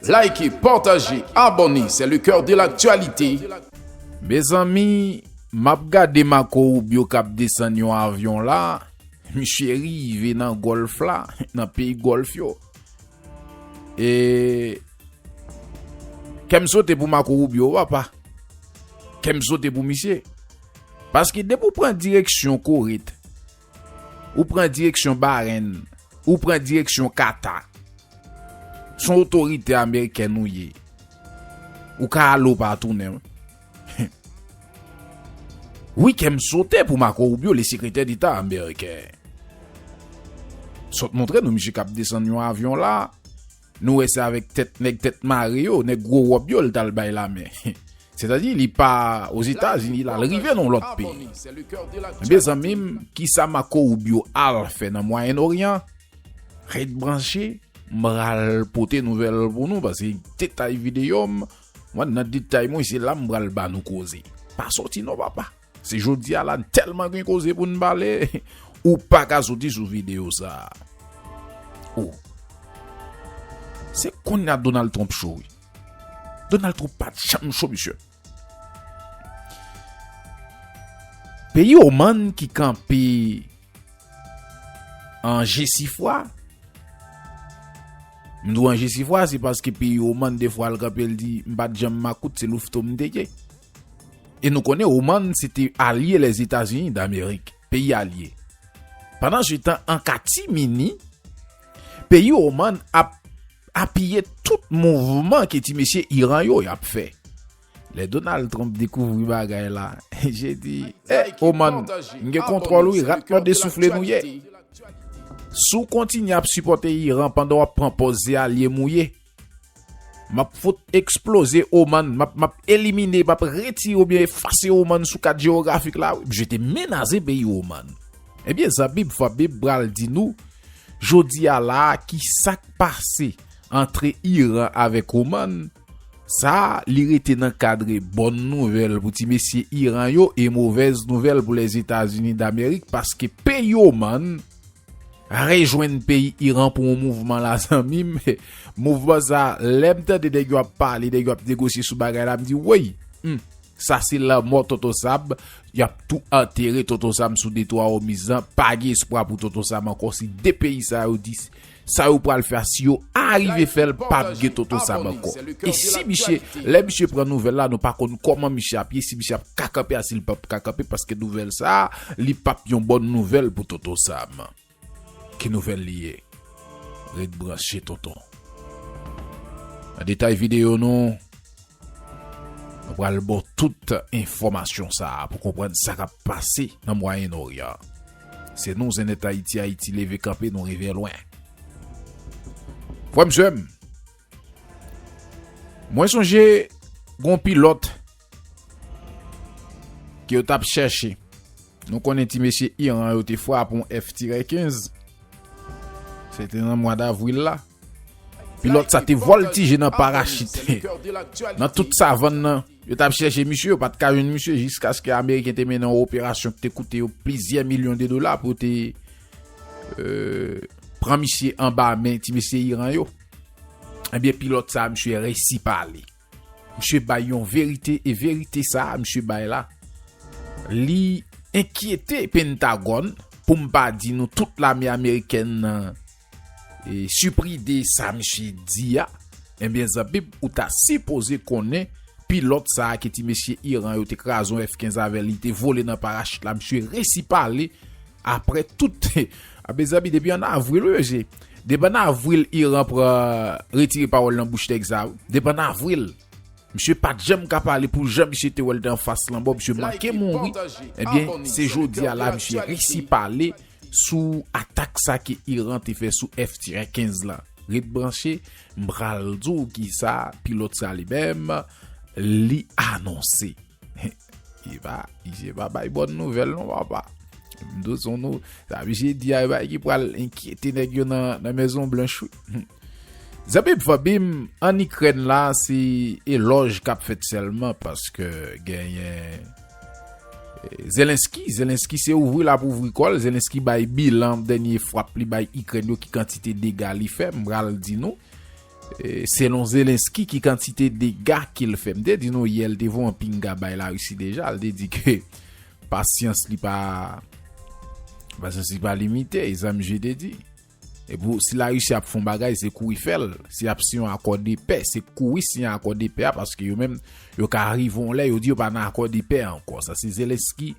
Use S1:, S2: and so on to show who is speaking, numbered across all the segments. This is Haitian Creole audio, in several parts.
S1: Like partage abonne c'est le coeur de l'actualité.
S2: Mezanmi map gade Marco Rubio kap desann yon avyon la, misye rive nan Gòlf la, nan peyi Gòlf yo. E kèm sote pou Marco Rubio papa. Kèm sote pou misye. Paske depi ou pran direksyon Corée t. Ou pran direksyon Barenn, ou pran direksyon Kata. Son otorite amerikèn ou ye. Ou ka ale ou pa tounen. Wi kè m sote pou Marco Rubio le sekretè deta ameriken. Sot montre nou misye kap desann yon avyon la. Nou wè se avèk tèt nèg tèt mare yo, nèg gwo wòb yo l t al bay lamen. Sètadi li pa Ozetazini l al rive nan yon lòt peyi. Enben zanmi m, kisa Marco Rubio al fè nan Mwayen Oryan? Ret branche, m pral pote nouvèl pou nou pase detay videyo m, mwen nan detay mwen se la m pral ba nou koze. Pa sòti non papa! Si jodi a la n tèlman gen koze pou n pale, ou pa ka soti sou videyo sa a. O! Se kounye a Donald Trump cho wi. Donald Trump pa t janm cho misye. Peyi Oman ki kanpe an jesifwa, m di w an jesifwa se paske peyi Oman defwa l kanpe l di m pa t janm makout se louveteau m te ye. E nou konnen Oman se te alye Lèzetazini Damerik, peyi alye. Pandansetan, an katimini, peyi Oman ap apiye tout mouvman ke ti mesye Iran yo y ap fè. Lè Donald Trump dekouvri bagay la, je di, E, Oman, m gen kontwòl wi, rat mòd e soufle nou ye. Si w kontinye ap sipòte Iran pandan w ap pran pòz se alye m ou ye, Map fout eksploze ou man, map map elimine, map retire oubyen efase ou man sou kat jewografik la wi, je te menaze peyi ou man. Ebyen zanmim fanmim pral di nou Jodi a la a ki sak pase antre Iran avèk ou man sa a li rete nan kadre bòn nouvèl pou ti mesye Iran yo e movèz nouvèl pou Lèzetazini Damerik paske peyi ou man Rejwenn peyi Iran pou yon mouvman la zanmim, mouvman sa lèm tande nèg yo ap pale, nèg yo ap negosye sou bagay la m di woy, humm sa se lanmò tonton Sam, yap tou antere tonton Sam sou detwa Òmiz lan, pa gen espwa pou tonton Sam ankò si 2 peyi sa yo di sa yo pral fè a si yo arive fèl pap gen tonton Sam ankò e si misye lè misye pran nouvèl la nou pa konn kòman misye ap ye si misye ap ka kanpe a sil pap ka kanpe paske nouvèl sa. Li pap yon bòn nouvèl pou tonton Sam. Ki nouvèl li ye? Ret branche tonton. Nan detay videyo nou, nou pral ba w tout enfòmasyon sa a pou konprann sa k ap pase nan Mwayen Oryan. Se nou Zenètayiti Ayiti leve kanpe nou rive lwen. Frè m sè m, mwen sonje gen yon pilòt. Ke yo tap chèche. Nou konnen ti mesye Iran yo te frape yon F-15. Se te nan mwa davril la. Pilòt sa te voltije nan parachit. Nan tout savann nan, yo tap chèche misye, yo pat ka jwenn misye jiskaske Ameriken te mennen yon operasyon ki te koute yo plizyè milyon de dola pou yo te pran misye anba men ti mesye Iran yo. Ebyen pilòt sa misye resi pale. Misye bay yon verite e verite sa a misye bay la li enkyete Pentagòn pou m pa di nou tout lame amerikèn nan sipri de sa misye di a enben zanmim ou ta sipoze konnen pilòt sa a ke ti mesye Iran yo te kraze yon F-15 avè l li te vole nan parachit la misye resi pale apre tout a mezanmi depi an avril wi mesye Depann avril Iran pran retire pawòl nan bouch nèg sa wi. Depann avril. Misye pat janm ka pale pou jan misye te wèl te anfas lanmò misye manke mouri ebyen se jodi a la misye resi pale sou atak sa ke Iran te fè sou F-tirè 15 la ret branche m pral di w kisa pilòt sa li menm li anonse. Li pa, li pa bay bòn nouvèl non papa. Mdo son nou, sa misye di a e bagay ki pral enkyete nèg yo nan mezon blanch wi. Zanmim fanmim an ikrèn la se elòj kap fèt sèlman paske genyen zelensky, zelensky se ouvri lap ouvri kòl, zelensky bay bilan dènye frap li bay ikrèn yo ki kantite dega li fè, m pral di nou. Selon Zelensky ki kantite dega ke l fè? M te di nou yè l te voye yon pinga bay Larisi deja, l te di ke pasyans li pa pasyans li pa limite, e sa misye te di. E pou si Larisi ap fè yon bagay se kouri fè l, si y ap siyen yon akò de pè se kouri siyen akò de pè a paske yo menm yo ka rive yon lè yo di yo pa nan akò de pè ankò. Sa se Zelensky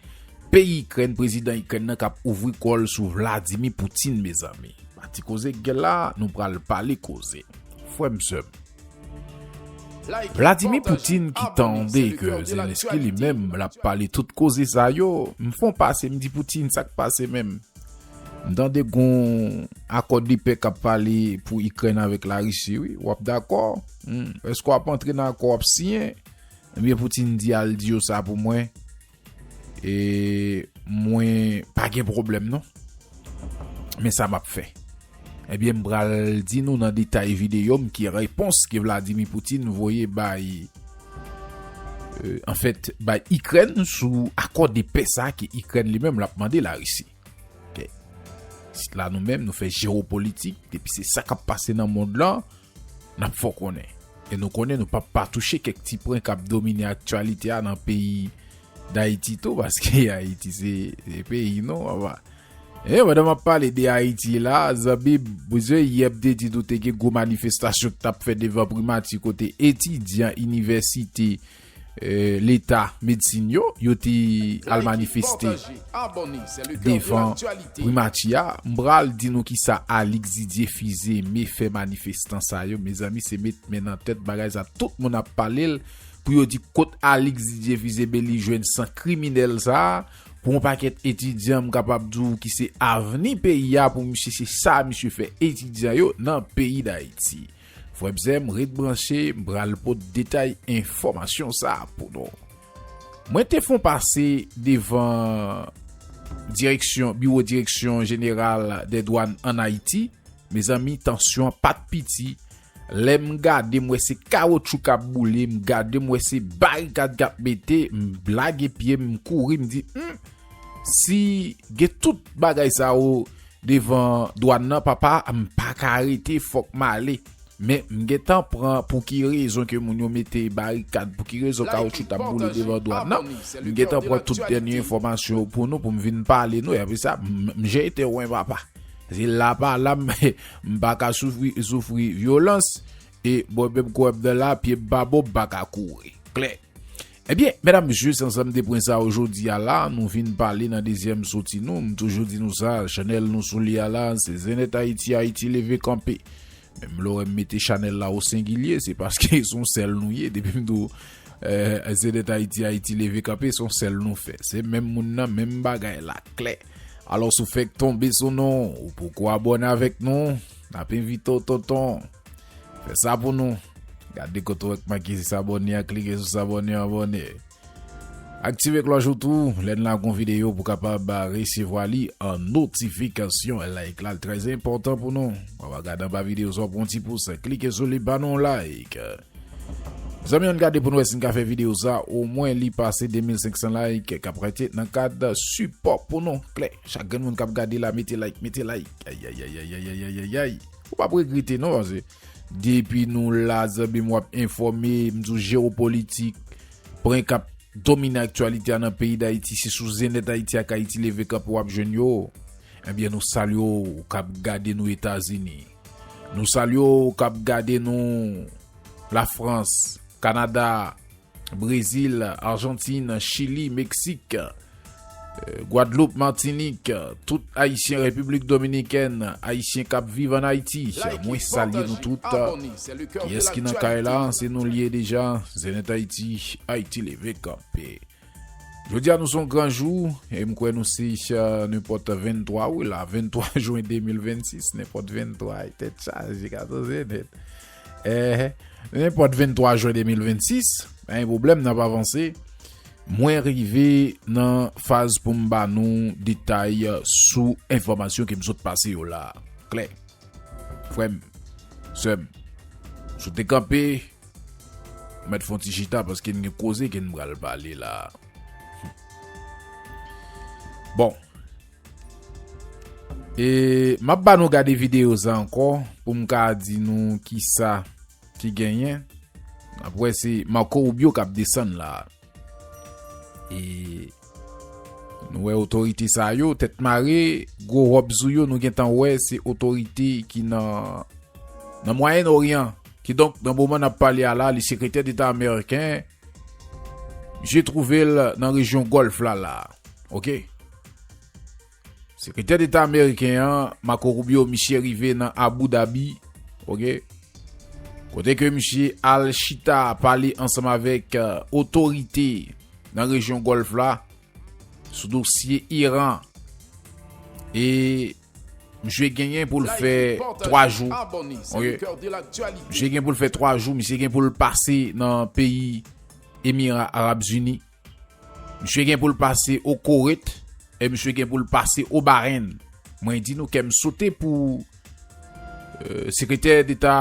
S2: peyi Ikrèn, prezidan Ikrèn nan k ap ouvri kò l sou Vladimir Putin mezanmi. Ba ti koze k gen la nou pral pale koze frèm sèm. Vladimir Poutine ki tande ke Zelensky li menm lap pale tout koze sa yo m fon pase m di Poutine sak pase menm m tande gon akò de pè kap pale pou Ikrèn avèk la Russie wi wap dakò humm eske wap antre nan akò wap siyen ebyen Poutine di al di yo sa pou mwen. E mwen pa gen pwoblèm non. Men sa map fè. Ebyen eh m pral di nou nan detay videyo m ki repons ke Vladimir Poutine voye bay euh, an fèt bay Ikrèn sou akò de pè sa ke Ikrèn li menm lap mande la Risi. Sit la nou menm nou fè jewopolitik depi se sa kap pase nan mond lan. N ap fè w konnen. E nou konnen nou pap pa touche kèk ti pwen k ap domine aktyalite a nan peyi Dayiti tou paske Ayiti se peyi nou papa. E pandan m ap pale de Ayiti la a zanmi m, ou se yè m te di nou te gen gwo manifestasyon k t ap fè devan primati kote etidyan inivèsite. Leta medsin yo, yo te al manifeste devan primati a. M pral di nou kisa Alix Didier Fils-Aimé fè manifestan sa yo. Mezanmi se met men nan tèt bagay sa tout moun ap pale l pou yo di kot Alix Didier Fils-Aimé li jwenn san kriminèl sa pou yon pakèt etidyan m kapab di w ki se avni peyi a pou misye se sa misye fè etidyan yo nan peyi Dayiti. Frè bzèm ret branche m pral pot detay enfòmasyon sa pou nou. Mwen te fon pase devan direksyon biwo direksyon jeneral dè dwàn an Ayiti mezanmi tansyon an pat piti lè m gade m wè se kawotchou kap boule m gade m wè se barikad kap mete m lage pye m m kouri m di humm si gen tout bagay sa yo Devan dwan nan papa m paka rete fok m ale men m gentan pran pouki rezon ke moun yo mete barikad pouki rezon kawoutchou tap boule devan dwan nan m gentan pran tout dènye enfòmasyon yo pou nou pou m vin pale nou apre sa m jete wen papa se la pa la m paka soufri soufri vyolans e mwen menm kouwèm nan la pye m pa bon m paka kouri klè. Ebyen medam mesye san sam te pwen sa ojodi a la nou vin pale nan dezyèm soti nou m toujou di nou sa chanèl nou sou li a la se Zenith Ayiti Ayiti leve kanpe menm lè w wè m mete chanèl la o sengilye se paske son sèl nou ye depi m di w Zenith Ayiti Ayiti leve kanpe son sèl nou fè se menm moun nan menm bagay la klè alòs ou fèk tonbe sou nou ou poko abòne avèk nou nap envite w tonton. Fè sa pou nou. Gade kote ou ak make s'abonner a klike sou s'abonner abonner. Aktive cloche ou tou lè n lagon vidéo pou kapab resevwa li an notification. Like la très important pou nou. Wap a gade anba vidéo sa pran ti pous klike sou li ba nou like. Zanmi an gade pou nou wè si n ka fè vidéo sa o mwen li pase 2500 like kap rete nan kad support pou nou. Klè chak grenn moun kap gade la mete like mete like ayayayayayayayayay. Ou pap regrete non pase depi nou la zanmim wap enfòme m di w jewopolitik pwen kap domine aktyalite a nan peyi dayiti se sou zenèt ayiti ak ayiti leve kanpe wap jwenn yo ebyen nou salye w kap gade nou etazini nou salye w kap gade nou lafrans kanada. Brezil, Arjantin, Chili, Meksik, Gwadloup, Matinik, tout Ayisyen Repiblik Dominikèn, Ayisyen kap viv an Ayiti, mwen salye nou tout. Kiyès ki nan kay la, se nou liye deja, Zenith Haiti, Haiti leve kanpe. Jodi a nou son gran jou, e m kwè nou se nenpòt 23 wi la, 23 jwen 2026, nenpòt 23 e tèt chaje gato Zenith. Eh, nenpòt 23 jen 2026, pa gen pwoblèm n ap avanse. Mwen rive nan faz pou m ba nou detay sou enfòmasyon ke m sot pase yo la a. Klè? Frè m, sè m, si w te kanpe, m mèt fon ti chita paske n gen koze ke n pral pale la a. Bon. E map ba nou gade video sa ankò poum ka di nou kisa ki genyen nap wè se Marco Rubio kap desann la e nou wè otorite sa yo tèt mare gwo rob sou yo nou gentan wè se otorite ki nan nan mwayen oryan kidonk nan moman nap pale a la li sekretè deta ameriken Misye twouve l nan rejyon Gòlf la la a. Ok. Sekretè Deta ameriken an, Marco Rubio, misye rive nan Abu Dhabi. Ok. Kote ke misye al chita pale ansanm avèk otorite nan rejyon Gòlf la sou dosye Iran. E. Misye genyen poul fè 3 jou ok misye gen poul fè 3 jou misye gen poul pase nan peyi emira arab zini misye gen poul pase o koret e misye gen poul pase o barenn mwen di nou kèm sote pou sekretè deta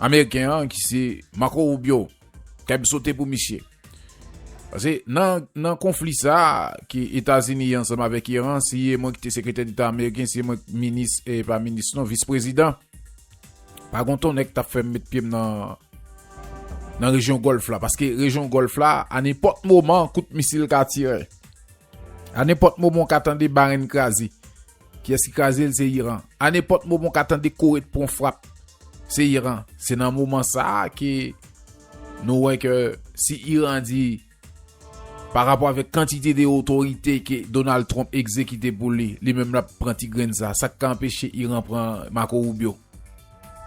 S2: Ameriken an ki se Marco Rubio kè m sote pou misye. Pase nan konfli sa ki Etazini ansanm avèk Iran si e mwen ki te sekretè deta Ameriken si e mwen minis e pa minis non vis prezidan pa gon ton nèg k tap fè m met pye m nan nan rejyon Gòlf la paske rejyon Gòlf la a nenpòt moman kout misil ka tire a nenpòt moman w ka tande barenn kraze. Kiyès ki kraze l se Iran. A nenpòt moman w ka tande Kore t pran frap se Iran. Se nan moman sa ke nou wè ke si Iran di pa rapò avèk kantite de otorite ke Donald Trump egzekite pou li, li menm l ap pran ti grenn sa. Sa k ka anpeche Iran pran Marco Rubio?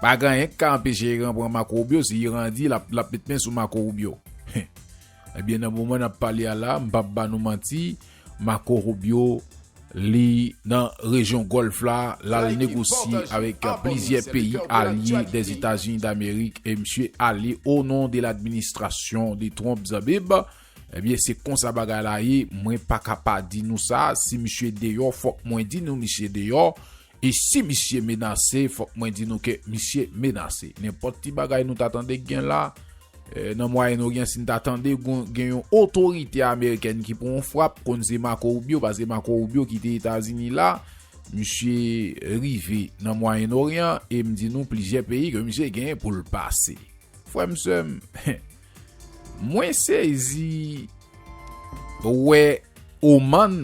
S2: Pa gen anyen k ka anpeche Iran pran Marco Rubio si Iran di l ap met men sou Marco Rubio. Ebyen nan moman nap pale a la, m pap ba nou manti, Marco Rubio li nan rejyon Gòlf la, lal negosye avèk plizyè peyi alye Dèzetazini Damerik e misye ale o non de ladministrasyon de Trump Zabib, ebyen se konsa bagay la ye, mwen paka pa di nou sa, si misye deyò fòk mwen di nou misye deyò, E si misye menase, fòk mwen di nou ke misye menase. Nenpòt ti bagay nou ta tande gen la, nan Mwayen Oryan, si n ta tande gen yon otorite amerikèn ki pran yon frap, konn se Marco Rubio, paske se Marco Rubio ki te Etazini la, misye rive nan Mwayen Oryan, e m di nou plizyè peyi ke misye genyen pou l pase. Frè m, sè m, Mwen sezi wè Oman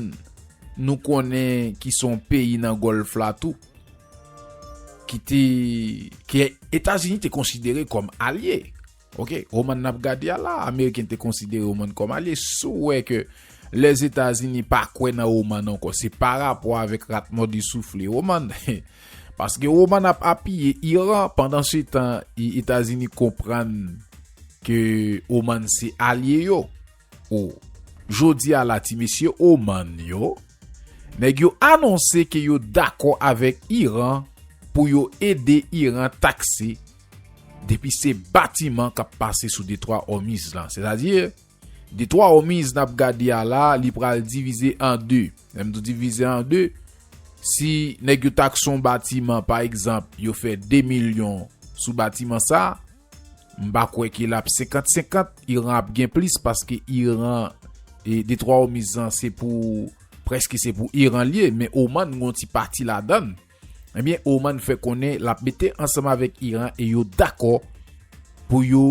S2: nou konnen ki son peyi nan Gòlf la tou ki te ke Etazini te konsidere kòm alye ok Oman n ap gade a la ameriken te konsidere Oman kòm alye si w wè ke Lèzetazini pa kwè nan Oman ankò se parapò avèk rat mòde soufle Oman he Paske Oman ap apiye Iran pandan se tan Etazini konprann ke Oman se alye yo. O Jodi a la ti mesye Oman yo, nèg yo anonse ke yo dakò avèk Iran pou yo ede Iran takse depi se batiman kap pase sou detwa Òmiz la. Sètadi. De twa homies nap gade a la li pral divize an 2 lèm di divize an 2 si nèg yo tak son batiman pa egzanp yo fè 2 milyon sou batiman sa m pa kwè ke lap 50 50 iran ap gen plis paske iran de twa homies an se pou preske se pou iran liye men oman gon ti pati ladann. Ebyen Oman fè konnen lap mete ansanm avèk Iran e yo dakò pou yo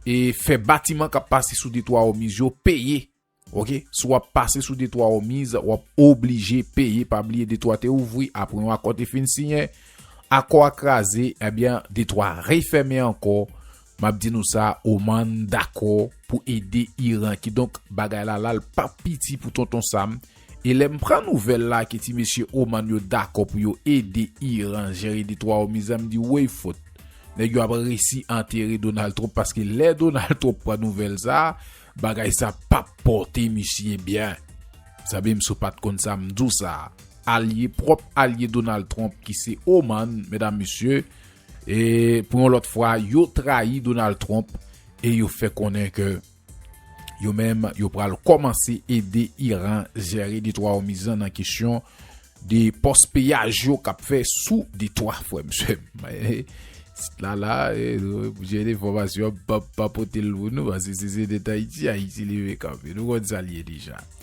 S2: e fè batiman kap pase sou detwa Òmiz yo peye ok si wap pase sou detwa Òmiz wap oblije peye pa bliye detwa te ouvri apre yon akò te fin siyen akò a kraze ebyen detwa refèmen ankò Map di nou sa Oman dakò pou ede Iran kidonk bagay la lal pap piti pou tonton Sam e lèm pran nouvèl la ke ti mesye Oman yo dakò pou yo ede Iran jere de twa omiz la mdi woy fot nèg yo ap resi antere Donald Trump paske lè Donald Trump pran nouvèl sa bagay sa pap pòte misye byen zanmim si w pat konn sa mdi w sa alye pwòp alye Donald Trump ki se Oman medam mesye E pou yon lòt fwa, yo trayi Donald Trump e yo fè konnen ke yo menm yo pral kòmanse ede Iran jere detwa Òmiz lan nan kesyon de pòs peyaj yo kap fè sou detwa frè m sè m. Sit la la, pou jere enfòmasyon an m pap pa pote l pou nou paske se se de Tayiti Ayiti leve kanpe. Nou konn sa l ye deja.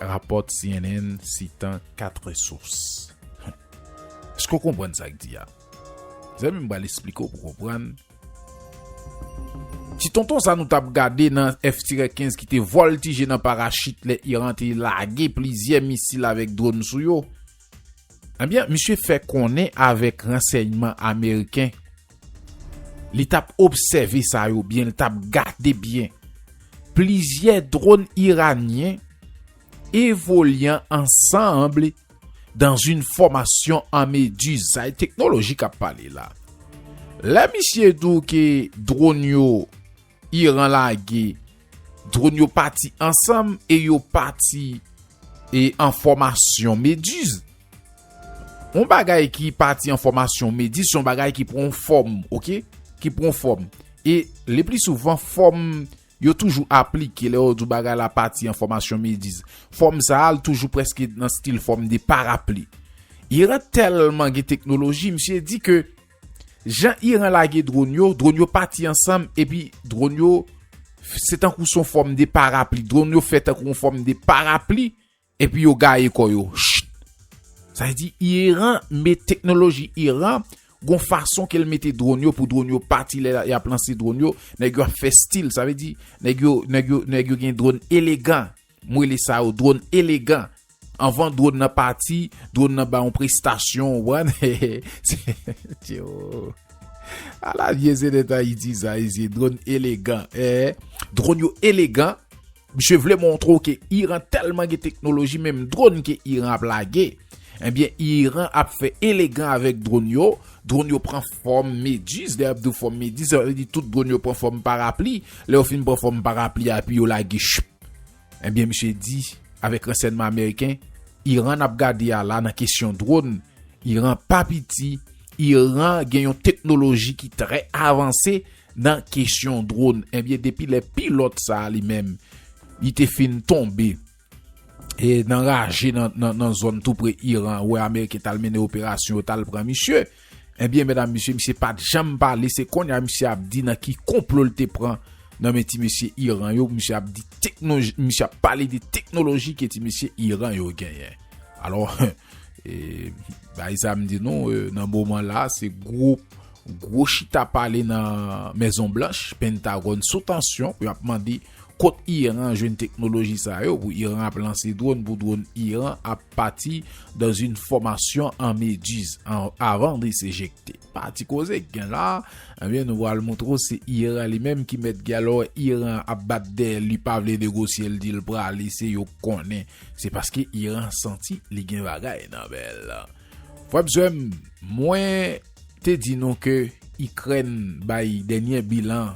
S2: Rapò cnn sitan 4 sous. Eske w konprann sa k di a? Zanmi m pral esplike w pou w konprann. Ti tonton sa nou t ap gade nan F-15 ki te vòltije nan parachit lè Iran te lage plizyè misil avèk dronn sou yo, Ebyen misye fè konnen avèk ransèyman ameriken li tap obsève sa yo byen li tap gade byen plizyè dronn iranyen evolyan ansanble dan yn fòmasyon an medizay teknoloji kap pale la lè misye dou ke dronn yo Iran lage dron yo pati ansanm e yo pati e an fòmasyon mediz. On bagay ki pati an fòmasyon mediz, son bagay ki pran fòm, ok? Ki pran fòm. E le pli souvan fòm yo toujou aplike le yo di bagay la pati an fòmasyon mediz. Fòm sa al toujou preske nan stil fòm de parapli. Iran telman gen teknoloji, misye di ke Jan Iran lage dronn yo, dronn yo pati ansanm epi dronn yo se tankou son fòm de parapli. Dronn yo fè tankou yon fòm de parapli epi yo gaye kò yo. Sa vle di Iran met teknoloji Iran gon fason ke l mete dronn yo pou dronn yo pati lè y ap lanse dronn yo. Nèg yo ap fè stil. Sa vle di nèg yo gen dronn elegan. M rele sa yo dwòn elegan. Anvan dwòn nan pati, dwòn nan ba yon prestasyon, ou konprann. Ala vye zèdèt Ayiti sa mesye, dwòn elegan. Dwòn yo elegan. Misye vle montre w ke Iran tèlman gen teknoloji, menm dwòn ke Iran ap lage, ebyen Iran ap fè elegan avèk dwòn yo. Dwòn yo pran fòm mediz, lè y ap di w fòm mediz, sa vle di tout dwòn yo pran fòm parapli. Lè yo fin pran fòm parapli a, epi yo lage chppp. Ebyen misye di avèk ransènman ameriken Iran nap gade a la nan kesyon drone Iran pa piti Iran gen yon teknoloji ki trè avanse nan kesyon drone ebyen depi lè pilòt sa li menm li te fin tonbe e nan raje nan zòn tou pre Iran wè ameriken tal mennen operasyon yo tal pran misye. Ebyen medam mesye misye pat janm pale se konnya misye ap di nan ki konplo l te pran nan men ti mesye Iran yo misye ap di teknoji misye ap pale de teknoloji ke ti mesye Iran yo genyen alò bay sa m di nou nan moman la se gwo gwo chita pale nan mezon blanch pentagòn sou tansyon pou y ap mande kot Iran jwenn teknoloji sa yo pou Iran ap lanse dron pou dron Iran ap Pati dans une formation en méduse avant de s'éjecter. Pati koze k gen la, ebyen nou pral moutre w se Iran li menm ki mèt gè lò Iran ap bat dèyè l li pa vle negosye l di l prale se yo k konnen. Se paske Iran santi li gen bagay nan men l. Frè m sè m, mwen te di nou ke Ikrèn bay dènyè bilan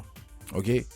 S2: ok.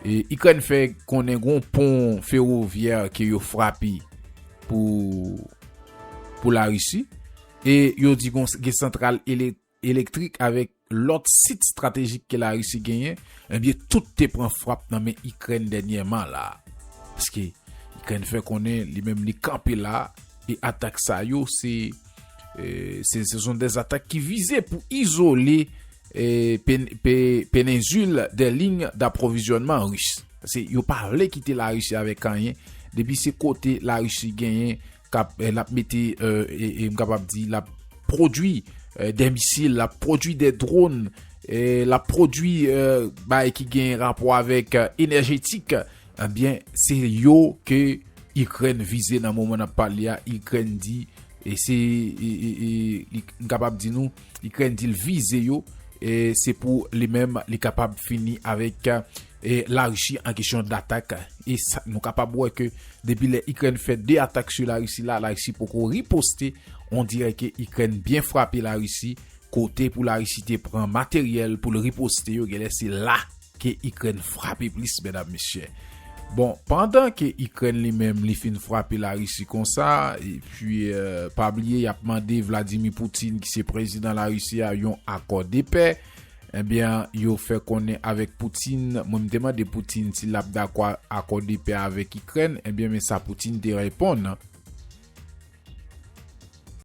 S2: Ikrèn fè konnen gon pon ferovyè ke yo frape pou Larisi e yo di gon gen santral elektrik avèk lòt sit stratejik ke Larisi genyen, ebyen tout te pran frap nan men Ikrèn dènyèman la. Paske Ikrèn fè konnen li menm li kanpe la e atak sa yo se son dèzatak ki vize pou izole Penensil de liy daprovizyònman ris. Pase yo pa vle kite Larisi avèk anyen. Depi se kote Larisi genyen kap l ap mete e m kapab di l ap pwodui de misil, l ap pwodui de dron, l ap pwodui bay ki gen rapò avèk enèjetik. Ebyen se yo ke Ikrèn vize nan moman n ap pale a. Ikrèn di e se m kapab di nou. Ikrèn di l vize yo se pou li menm li kapab fini avèk Larisi an kesyon datak. E nou kapab wè ke depi lè Ikrèn fè 2 atak sou Larisi la, Larisi poko riposte. On dirè ke Ikrèn byen frape Larisi, kote pou Larisi te pran materyèl pou l riposte yo genlè se la. ke Ikrèn frape plis medam mesye. Bon, pandan ke Ikrèn li menm li fin frape Larisi konsa, epi pa bliye y ap mande Vladimir Putin ki se prezidan Larisi a yon akò de pè, ebyen yo fè konnen avèk Putin, mwen m te mande Putin si l ap dakò akò de pè avèk Ikrèn, ebyen men sa Putin te reponn.